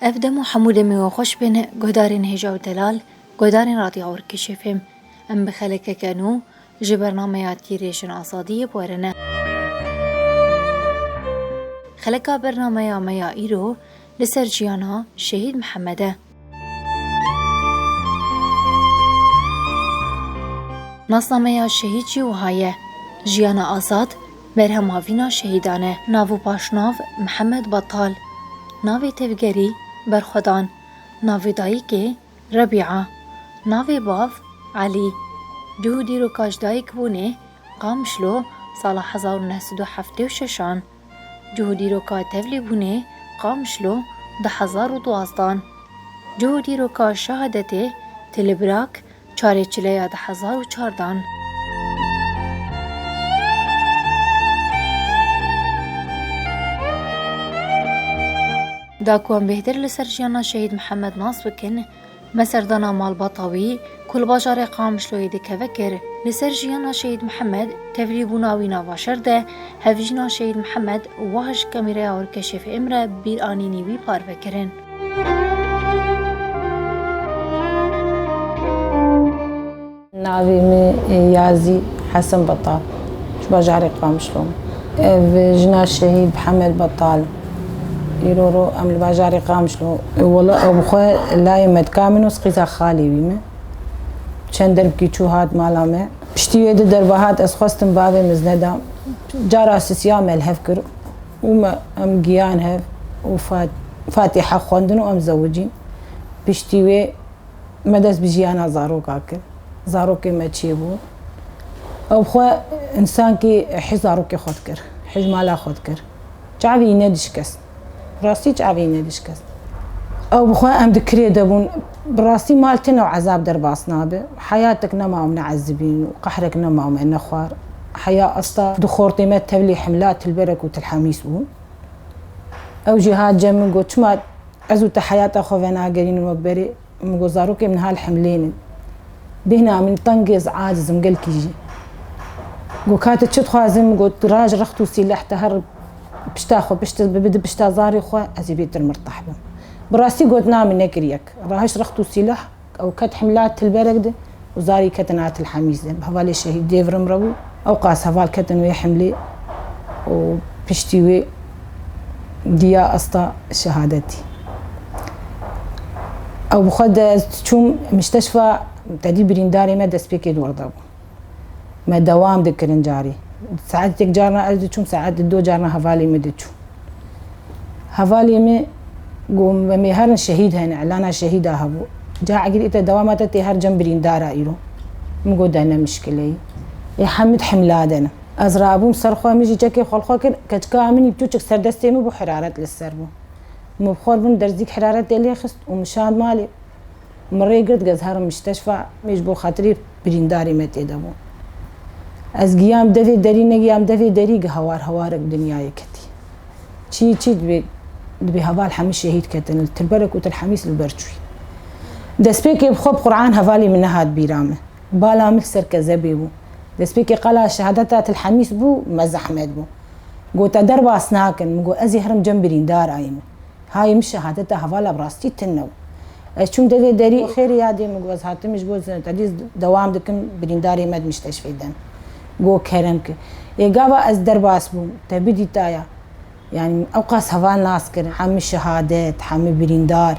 Ev dem û hemû demê we xweş bêne guhdarên Hêja û Delal, guhdarên Radya Orkişê fêm. Em bi xelekeke nû ji bernameya Tîrê Jin Azadiyê bi we re ne. Xeleka bernameya me ya îro li ser jiyana Şehîd Mihemed e. Nasnameya Şehîd jî wiha ye, Jiyana azad, Berhem Havîna Şehîdan e. Nav û paşnav, Mihemed Batal. Navê tevgerî, Berxwedan. Navê dayîkê, Rebîa. Navê bav, Elî. Cû û dîroka ji dayikbûnê, Qamişlo, sala hezar û neh sed û heftê û şeş an. Cû û dîroka tevlîbûnê, Qamişlo, du hezar û duwazdan. Cû û dîroka şehadetê, Tilibrak, Çarê çileya di hezar û çar dan. Da ku em bêhtir li ser jiyana Şehîd Mihemed nas bikin, me serdana malbata wî ku li bajarê Qamişloyê dikeve kir. Li ser jiyana Şehîd Mihemed tevlîbûna wî nava şer de hevjîna Şehîd Mihemed wah ji kameraya Orkeşîf Îmre bîranînî wî parve kirin. Navê min Yazî Hesen Betal. Ji bajarê Qamişlo me. Ev jina şehîd Hemel Betal. Îro ro em li bajarê Qamişlo wala ew bi xwe layê me dika min û qîza xalê wî me. Çend derbikî çû hat mala me. Piştî wê du derve hat ez xwestim bavê min zneda. Cara sisiya me li hev kir. û me em giyan hev û Fatîha xwendin û em zewicîn. Piştî wê me dest bi jiyana zaroka kir. Zarokê me çê bû. Ew xwe însankî hêj zarokê xwe dikir, hêj mala xwe dikir. Çavî nedişkest. Rastî çavî nedişkest. Ew bi xwe em di kirê de bûn. Bi rastî mal tune û ezab derbas nabe. Heyatek nema em neezibîn û qehrek nema em nexwar. Heya esta di xortê me tevlî himla tilberek û tilhemîs bûn. Ew jî hat cem min got çima ez û te heyata xwe venagerînin wek berê. Min got zarokên min hal himlên in. Bêhna min teng e ez aciz im gelkî jî. Got ka tu çi dixwazî min got raj rext û sîleh te her pişta xwe pişt bibe di pişta zarê xwe ez ê bêtir mirtah bim. Bi rastî got namî nekiriyek. Rahişt rext û sîlah ew ket himla Tilberek de û zarî ketin a Tilhemîz de. Bi hevalê şehîd dê virim re bû. Ewqas heval ketin wê himlê û piştî wê diya asta şehadetî. Ew bi xwe de ez diçûm, mîşteşfa tedî birîndarê me destpêkê dorda bû. Me dewam dikirin carî. Saet yek carna ez diçûm, saet du carna hevalê min diçûn. Hevalê min got me mê herin şehîd hene, elana şehîda hebû. Ca egirî te dewama te tê her cem birîndar a îro. Min got deh ne mişkileyî. Lê Hemîd himla de ne. Ez rabûm ser xwe, min jî çekê xwe li xwe kir, keçika min î pirtûçik ser destê min bû heraret li ser bû. Min bi xwe re bin derzîk heraretê lê xist û min şand malê. Min rê girt get herim misteşfa me ji bo xatirê birîndarê me tê de bû. Ez giyam devê derî negiyam devê derî gi hewar hewar bi dinyayê ketî. Çî çî dibê dibê heval hemû şehîd ketin li Tilberek û Tilhemîs li ber çûyî. Destpêkê bi xwe bi Quran hevalê min nehat bîra min. Bala min li ser kezebê bû. Destpêkê qala şehadeta Tilhemîs bû me zehmet bû. Gote derbas nakin min got ez ê herim cem birîndar ayî min. Hay min şehadeta hevala bi rastî tune bû. Ez çûm devê derî û xêrê yadê min got ez hatime ji bo zînetedîs dewam dikim birîndarê me di mîşteşfê de ne. Got kerem ki. Ê gava ez derbas bûm. Te bidîtaya. Yanî min ewqas heval nas kirin hemû şehadet, hemû birîndar.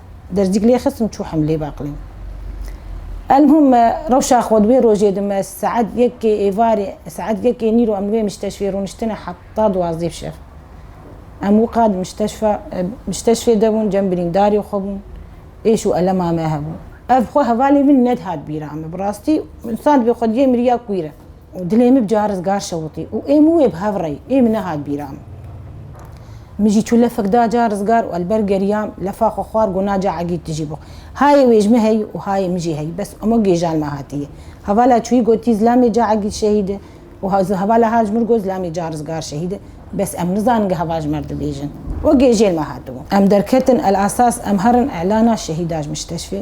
Dercîk lê xistim çû hemlê baqlê. Elmuhim rewşa xwe di wê rojê de me saet yekê êvarê saet yekê nîro em li wê mîşteşfê rûniştine heta duwazdeh şev. Em wiqa di mîşteşfa mîşteşfê de bûn cem birîndarê xwe bûn êş û elema me hebû. Ev xwe hevalê min nedihat bîra me bi rastî insan divê xwediyê miriya kûyre. Dilê min bi caris gar şewitî û ê min wê bi hev rê. Ê min nehat bîra min. Min jî çû lefek da caris gar û elber geriyam, lefa xwe xwar got na ca egîd tu jî bix. Hayê wê ji min heye û hayê min jî heye, bes ema gêjan me hatiye. Hevala çûyî gotî zilamê ca egîd şehîd e û hevala hal ji min got zilamê caris gar şehîd e, bes em nizanin ge heval ji me re dibêjin. Wek gêjên me hatibû. Em derketin El Asas em herin îlana şehîda ji Mistêşfê.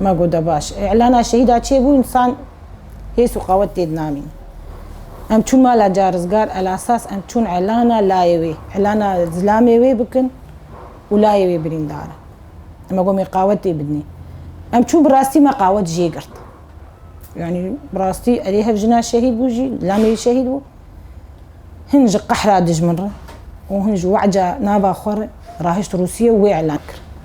Ma got da baş e. Îlana şehîda çêbû însan hês û qawet tê dinanîn. Em çûn mala carizgar elasas em çûn îlana layê wê, îlana zilamê wê bikin û layê wê birîndar e. Em gomê qawet tê bidinê. Em çûn bi rastî me qawet jê girt. Yanî bi rastî erê hev jina şehîd bû jî, zilamê wî şehîd bû. Hin ji qehra dijmin re û hin ji weca nava xwe re rahişt Rûsîye û wê îlan kir.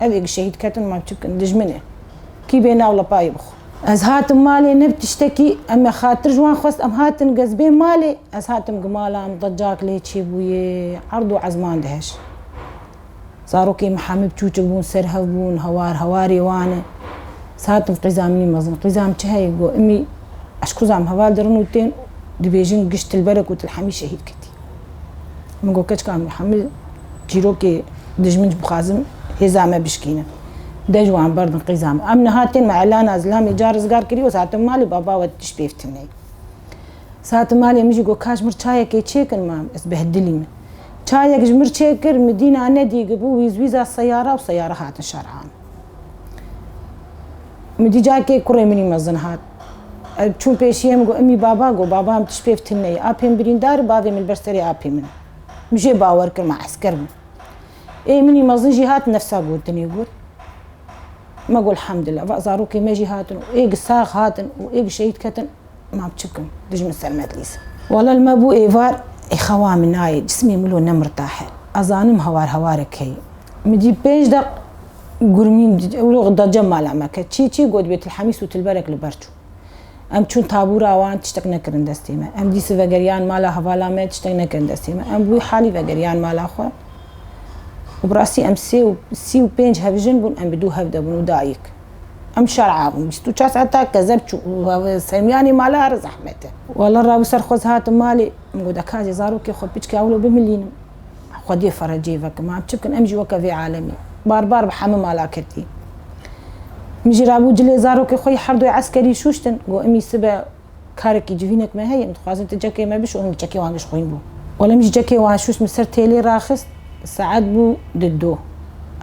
Ev ê şehîd ketin man çi bikin? Dijmin e. Kî bê nav lapayê bixwe. Ez hatim malê ne bi tiştekî, em me xatir ji wan xwest, em hatin gezbê malê, ez hatim gi mala em decak lê çêbûyê, erd û ezman dihej. Zarokê me hemû çûçik bûn, serhev bûn, hawar hawarê wan e. Ez hatim qîza min mezin. Qîza min çi heye? Got, Imî eşkuza min heval dirin û tên dibêjin gişt Tilberek û Tilhemî şehîd ketî. Min got keçika min Hemil çîrokê dijmin ji bixwazim hêza me bişkînin. Dej wan berdin qîza min. Em niha tên me Elana Zilamê ca rizgar kirî û sate malê baba we tişt pê fitînê. Sate malê min jî got ka ji mir çayekê çêkin mam ez behdilî min. Çayek ji mir çêkir min dîna nedîg bû wîzwîza seyara û seyara hatin şerhan. Min dî cakê kurê minî mezin hat. Ev çûn pêşiye min got imî baba got baba em tişt pêv tune ye. Apê min birîndar in bavê min li ber serê apê min e. Min jê bawer kir me esker bûm. Ê minî mezin jî hat nefsa gotinê got. Me got elhamdulillah va zarokê me jî hatin û ê bi sax hatin û ê bi şehîd ketin mam çi bikim dij min selmet lîs. Wala li me bû êvar ê xewa min nayê cismê min lo ne mirtahe. Ez zanim hewar hewarek heye. Min dît pênc deq. Gurmîn îro da cem mala me ke çî çî got bê Tilhemî sûtilberek li ber çû. Em çûn tabûra wan tiştek nekirin destê me. Em dîsi vegeriyan mala hevala me tiştek nekirin destê me. Em bi wî halî vegeriyan mala xwe û bi rastî em sê û sî û pênc hevjin bûn em bi dû hevde bûn û dayik. Em şer abûn bîst û çar saet ta kezeb çû û Semîyanê mala here zehmet e. Walla rabû ser xwe ez hatim malê. Min got eka ez ê zarokê xwe piçke ewlo bimilînim. Xwedê ferecê veke man çi bikin em jî weke vê alemê barbar bi hemû mala ketî. Min jî rabû cilê zarokê xwe yê herdoyê eskerî şûştin. Got imî sibe karekî civînek me heye min dixwazin tu cekê me bişo min bi çekê wan gişxwîn bû. Wele min jî çekê wan şûşt min ser têlê raxist saet bû di du.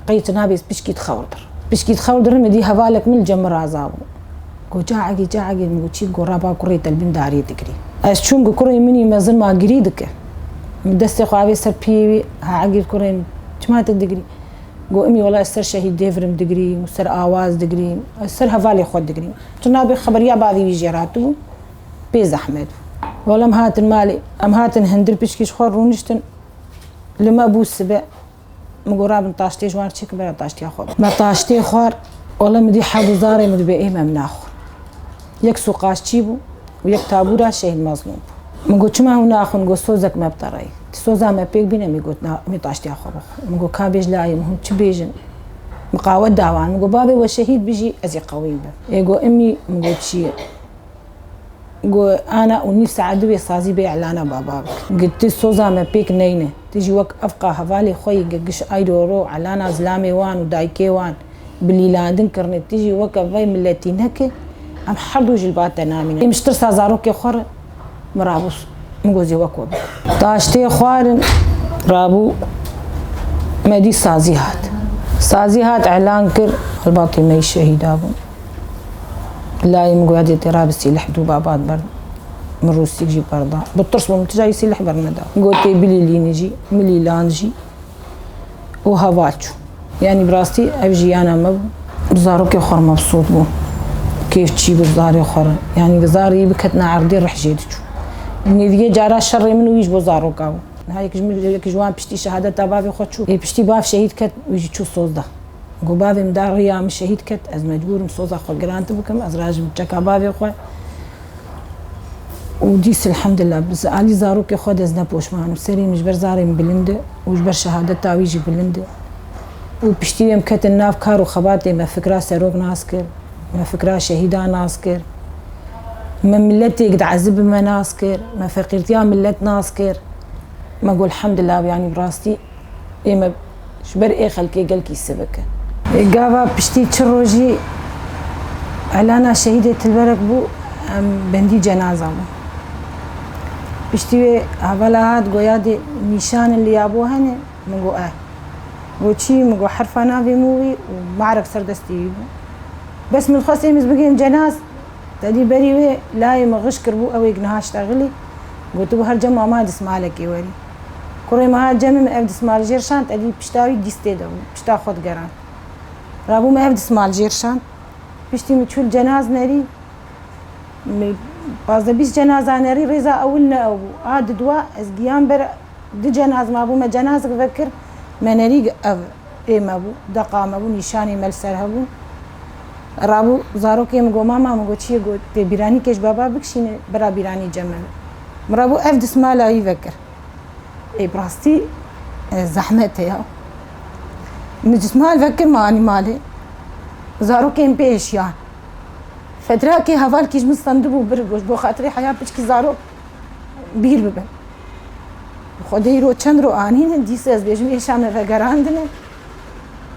Qey tu nabês pişkî dixewir dir. Pişkî dixewir dirin min dî hevalek min li cem min razabû. Go caegî caegî min got çî gora ba kurê te li bin dariyê digirî. Ez çûm ku kurê min î mezin ma girî dike. Min destê xwe avê ser piyê wî ha egîr kurê min çima te digirî? Go imî wela ez ser şehîd Dêvirim digirî û ser Awaz digirî ez ser hevalê xwe digirî. Tu nabê xeberiya bavê wî jê re hatibû pê zehmet bû. Wela em hatin malê. Em hatin hindir piçkî ji xwe rûniştin. Li me bû sibe. Min got rabin taştê ji wan re çêkin bera taştiya xwe bixwin. Me taştê xwar wala min dî hevû zarê min di bê ê me min naxwin. Yek sûqaşçî bû û yek tabûra Şehîd Mezlûm bû. Min got çima hûn naxwin got sozek me bi te re ye. Ti soza me pêk bîne min got na min taştiya xwe bixwin. Min got ka bêj layê min hûn çi bêjin. Min qawet da wan min got babê we şehîd bijî ez ê qewîm bim. Ê got imî min got çi ye. Go ana û nîv saet divê sazî bê îlana baba bikin. Go ti soza me pêk neyne. Ti jî wek evqa hevalê xwe yî go giş ay ro ro îlana zilamê wan û dayikê wan bi lîlandin kirine. Ti jî weke vay miletî neke. Em herdu ji li ba te namîne. Ê min ji tirsa zarokê xwe re min rabûs. Min go zî wek we bikin. Taş tê xwarin rabû. Me dît sazî hat. Sazî hat îlan kir. Helbakê me jî şehîda bûn. Layê min goya dê tê ra bi sîlih dû babat ber min rûsîk jî ber da. Bi tirs bûm tija yî sîlih ber min da. Got tê bilîlînî jî milîlan jî û heval çû. Yanî bi rastî ev jiyana me bû. Bi zarokê xwe re mebsût bûm. Kêf çî bû bi zarê xwe re. Yanî bi zarê yî biketina erdê rih jê diçû. Nêdîgê cara şerê min û wî ji bo zaroka bû. Niha yek ji wan piştî şehadeta bavê xwe çû. Ê piştî bav şehîd ket wî jî çû sozda. Ku bavê min da riya min şehîd ket, ez mecbûr im soza xwe girant bikim, ez rajim li çeka bavê xwe û dîs elhemdillah bi alî zarokê xwe de ez ne poşman im. Serê min ji ber zarê min bilind e û ji ber şehadeta wî jî bilind e û piştî wê em ketin nav kar û xebatê me fikra serok nas kir, me fikra şehîdan nas kir, me miletêk di ezibin me nas kir, me feqîrtiya milet nas kir, me got elhemdillah yanî bi rastî Ê me ji ber ê xelkê gel kîse bikin. Gava piştî çi rojî Elana şehîdê Tilberek bû em bendî cenaza bûn. Piştî wê hevala hat got ya dê nîşanin li ya bo hene? Min got eh. Got çî? Min got herfa navê min wî û Me'rif ser destê wî bû. Bes min dixwest êmiz bigihim cenaz tedî berî wê layê min xişk kiribû ew êk niha ştegilî gotibû her cem Amadis malekê werî. Kurê meha cemê min ev dismal jêr şand, edî pişta wî dîstê de bûm, pişta xwe digerand. Rabû min ev dismal jêr şand. Piştî min çûl cenaz nerî. Min pazdeh bîst cenaza nerî, rêza ewil ne ew bû. A di dua ez giyan ber di cenaz mabû, me cenazik vekir, me nerî ev ê me bû, deqa me bû, nîşanê me li ser hev bûn. Rabû zarokê min got mama, min got çiyê, got tê bîranî kej baba bikişîne bira bîranî cemê min. Min rabû ev dismala wî vekir. Ê bi rastî zehmet heye. Min dismal vekir min anî malê. Zarokên pê hişiyan. Fetrakê hevalkî ji min stendibû bir goş bo xatirê heya piçkî zarok bîr bibin. Xwedê îro çend roj anîne dîsa ez bêjim êşa me vegerandine.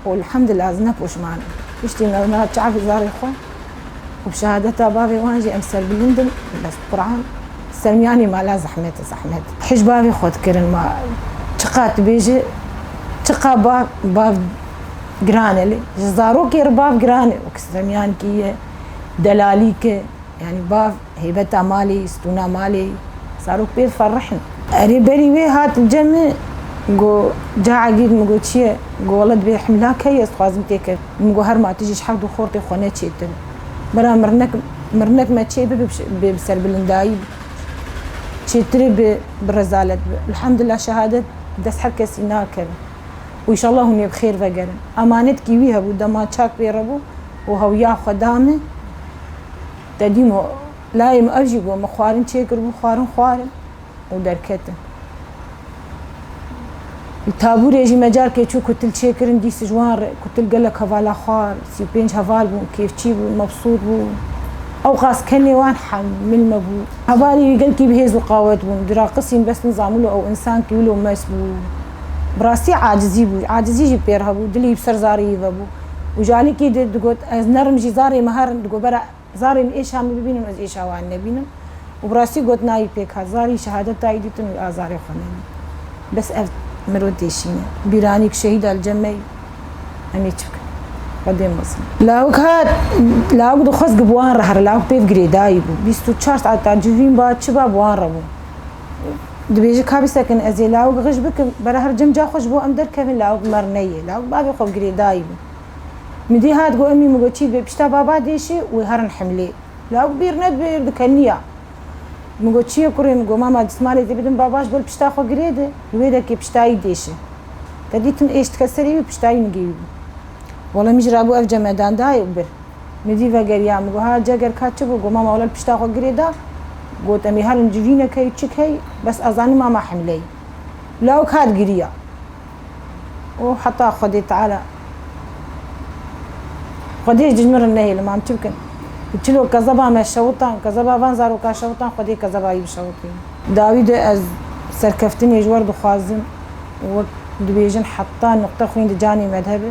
Elhamdulillah ez ne poşman im. Piştî mezmera çavê zarê xwe û bi şehadeta bavê wan jî em serbilind in. Bes Quran sermiyanî mala zehmet e zehmet. Hîş bavê xwe dikirin ma çiqat dibêje çiqa ba bav giran e lê ji zarokê re bav giran e wek sermiyankî ye delalîk e yanî bav. Heybeta malê, stûna malê, zarok pê ferrih in. Erê berî wê hat li cem min, got, Ca Egîd, min got, çi ye? Got, Walla divê himlak heyî ez dixwazim tê ker. Min got, Herma tu jî ji heft du xortê xwe ne çêtir î. Bira mirnek, mirnek me çê bibe bê bi serbilindayî bi, çêtirê bi bi rezalet bi. Elhamdulillah şehadet bi dest her kesî nakevin û îşallah hûn ê bi xêr vegerin. Emanetkî wî hebû dema çak pê re bû û hewîya xwe da min. Te dîm o layê min ev jî got min xwarin çêkir bû xwarin xwarin û derketin. Li tabûrê jî me carkê çû kutil çêkirin dîs ji wan re kutil gelek hevala xwar sî û pênc heval bûn kêfçî bûn mebsût bûn ewqas kenê wan hemil me bû. Hevalê wî gelkî bi hêz û qawet bûn diraqisîn bes nizamilo ew însan kî wilo mes bû. Bi rastî acizî bû acizî jî pêr hebû dilê wî bi ser zarê wî vebû. Û ji alikî di digot ez nerim jî zarê me herin digot bera zarê min êşa min bibînim ez êşa wan nebînim û bi rastî got nayî pêk hat zarî şehadet dayî dîtin û a zarê xwe nebî bes ev miro têşîne bîranî ku şehîda li cem me yî em ê çi bikin xwe dê mezin. Lawik hat lawik dixwest ku bi wan re here lawik pêv girêdayî bû bîst û çar saet ta civîn ba çi ba bi wan re bû. Dibêje ka bîsekin ez ê lawik xij bikim. Bera her cem ca xwe ji bo em derkevin lawik mer neyê. Lawik bavê xwe bi girêdayî bû. Min dî hat got emî min got çî dibe pişta baba dê şê wê herin himlê. Lawik bîr nedibe êrdi ke niya. Min got çi ye kurê min got mama dismalê dê bidim baba ji bo li pişta xwe girêde li wê de kê piştayî dê şê. Te dîtim êştike serê wî piştayî min girîbû. Wele min jî rabû ev cem me dan dayê û bir. Min jî vegeriya, min got ha ceger ka çi bû? Got mama wele li pişta xwe girê da. Got em ê herin civîne key û çi key bes ez zanîm mama hemle ye. Lawik hat giriya û heta Xwedê Teala Xwedê ji min re nehêlin mam çi bikin? Bi çilo kezeba me şewitan, kezeba van zarokan şewitan Xwedê kezeba wî bişewitînin. Dawî de ez serkeftinê ji we re dixwazim û wek dibêjin heta nuqte xwîn di canê me de hebe.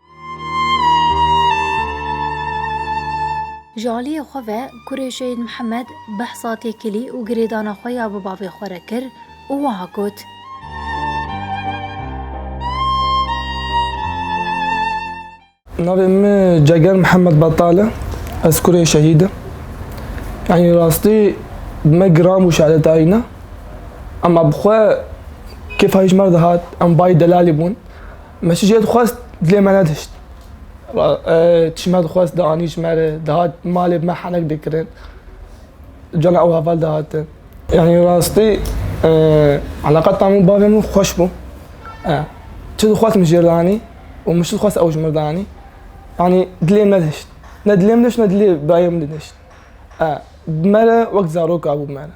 Ji aliyê xwe ve kurê Şehîd Mihemed behsa têkilî û girêdana xwe ya bi bavê xwe re kir û wiha got, Navê min Ceger Mihemed Betal e, ez kurê Şehîd im. Yanî rastî bi me giran bû şerê tayîna. Ema bi xwe kêfa hîç merda hat, em bayî delalî bûn. Me çi cihê dixwest dilê me nedişt. Çi me dixwest dianî ji me re dihat malê bi me henek dikirin. Cana ew heval dihatin. Yani rastî eleqeta min û bavê min xweş bû. Çi dixwest min ji rê dianî û min çi dixwest ew ji min re dianî. Yani dilê min nedişt. Ne dilê min dişt ne dilê birayê min dişt. Bi me re wek zarok a bû bi me re.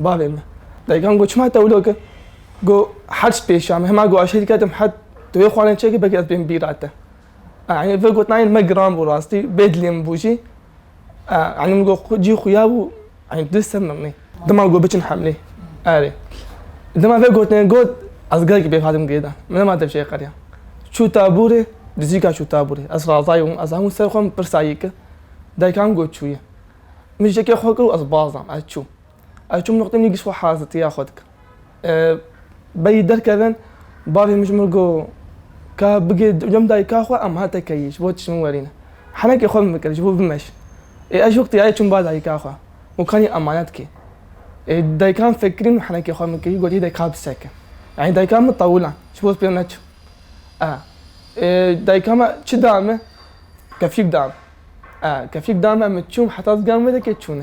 Bavê min, dayikan got çima tewlo kir? Got hec pêşiya min, hema got aşîr ketim het tu yê xwarinê çêkir belkî ez bên bîra te. Yanî vê gotinayê li me giran bû rastî bê dilê min bû jî. Yanî min got cî xuya bû yanî tu dê ser mirinî. Dima got biçin hemlê erê. Dima vê gotinê got ez gelekî pêk hatim girêdan. Min nema dev jê qeriya. Çû taborê, dijîka çû taborê. Ez razayî bûm, ez hemû ser xwe min pirsa yê kir. Dayikan got çûye. Min jekê xwe kir û ez bazam. Ez çûm. Ez çûm noqtê min ê gişt xwe hazitiya xwe dikim. Beyî derkevin bavê min ji min got ka bigê cem dayika xwe em hate keyî ji bo tu ji min werîne. Henekê xwe min bikir ji bo bimeş. Ê ez ji wextiyayê çûm ba dayika xwe û kanî emanet kê. Ê dayikan fekirîn û henekê xwe min keyî got hî dayika bi seke. Yanî dayika min tawilan ji bo ez pê neçim. Ê dayika me çi da min? Keflîk da min. Kefîk da me min çûm heta zigan wê deke çûne.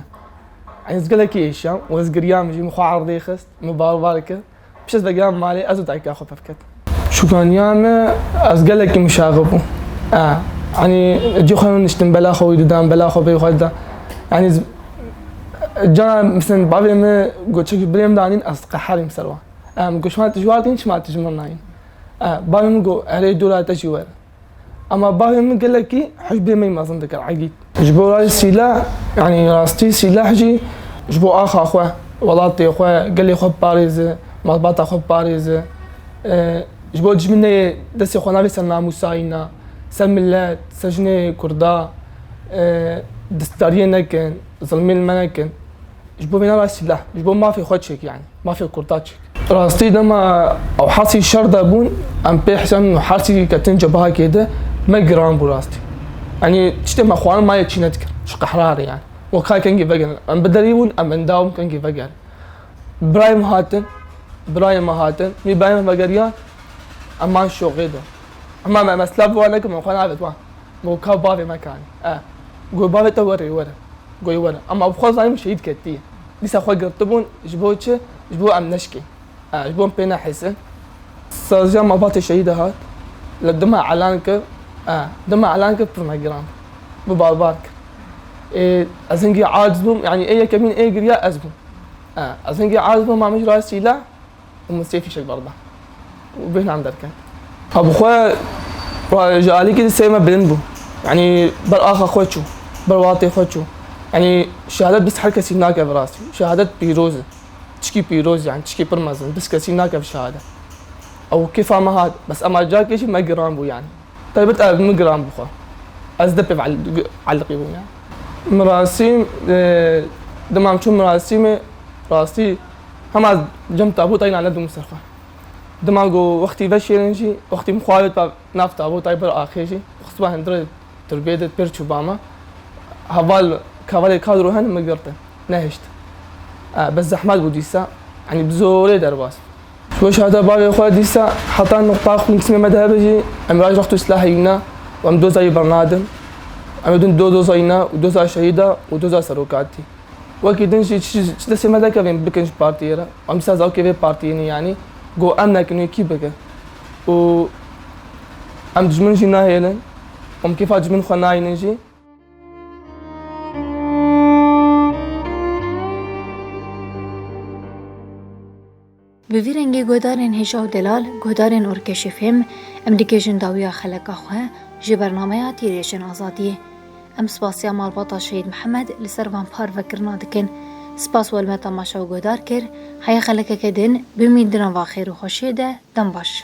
Ey ez gelekî êşiyam û ez giriyam jî min xwe erdê xist, min bar bar kir. Pişt ez vegiha malê ez û dayika xwe pir ketin. Şûkaniya me ez gelekî muşaxi bûm. Yanî cî xwe niştim bela xwe wî didan, bela xwe bêyî xwe didan. Yanî cana misin bavê min got çekî birê min danîn ez diqeherîm ser wan. Min got şima tu ji war tînî çima tu ji min nayînî. Bavê min got erê dûra te jî were. Ema bavê min gelekî hicbê me mezin dikir Egîd. Ji bo rayê sîleh yanî rastî sîleh jî ji bo axa xwe, welatê xwe, gelê xwe biparêze, malbata xwe biparêze. Ji bo dijmin neyê destê xwe navê ser namûsayîna, ser milet, ser jinê kurda destdariyê nekin, zilmê li me nekin. Ji bo vêna rayê sîleh, ji bo mafê xwe çêk yanî, mafê kurda çêk. Rastî dema ew hasî şer de bûn em pê hesabîn û hersî ketin cebahekê de me giran bû rastî. Yanî tiştê me xwarin mayê çî nedikir ji qehrarê yanî. We kay kengî vegerin em bi derî bûn em endam kengî vegerin. Birayê min hatin birayê me hatin mî birayê min vegeriyan em man şoxê de. Hema me me silav bi wan nekin me xwe navêt wan gogo ka bavê me kanî e gogo bavê te were were goyê were ema bi xwe zanîn min şehîd ketiye. Dîsa xwe girtibûn ji bo çi? Ji bo em neşkê. Ji bo em pê nehêsin. Saziya malbatê şehîda hat li dima elan kir. Dima elan kir pir me girand. Bi barbar kir. Ê ez hingî aciz bûm. Yanî ê yekemîn ê giriya ez bûm. Ez hingî aciz bûm ma min ji rayê sîleh û min sê fîşek berda û bêhnan derket. Ha bi xwe wa ji alîkî di sey me bilind bû. Yanî ber axa xwe çû, ber watê xwe çû. Yanî şehadet bis her kesî nake bi rastî. Şehadet pîroz e. Tişkî pîroz yanî tişkî pir mezin. Bis kesî nake bi şehadet. Ew kêfa me hat. Bes ema cakê jî me giran bû yanî. Taybet ev min giran bû xwe. Ez di pêv eliqî bûm yanî. Mirasîm, dema em çûn mirasîmê rastî Hema ez cem tabûta yîna nedûm ser xwe. Dima ku wextî veşêrin jî, wextî min xwe avêt ba nav tabûtayê bir axê jî, xistba hindirê turbiyê de pêr çû ba me. Heval kavalê kadro hen min girtin. Nehişt. Bes zehmet bû dîsa. Yanî bi zorê derbas. Weşarta bavê xwe dîsa heta nuqta xûnçimê me dihev jî em raj rext û silah heyîna û em doza yê birna din. Em didin du doza yîna û doza şehîda û doza serokatî. Wekî din jî ji destê me nekevên bikin ji partiyê re. Em dîsa zarokê vê partiyên in yanî got em nekin wê kî bike? Û em dijmin jî nahêlin û em kêfa dijmin xwe nayînin jî. Bi vî rengê guhdarên hêja û delal, guhdarên orkeşê fêm, em dikêjin dawiya xeleka xwe ji bernameya tîrêşên azadiyê. Em spasiya malbata Şehîd Mihemed li ser van parvekirina dikin. Spas welme temaşa û guhdar kir, heye xelekeke din bimîn di nava xêr û xweşiyê de, dem baş.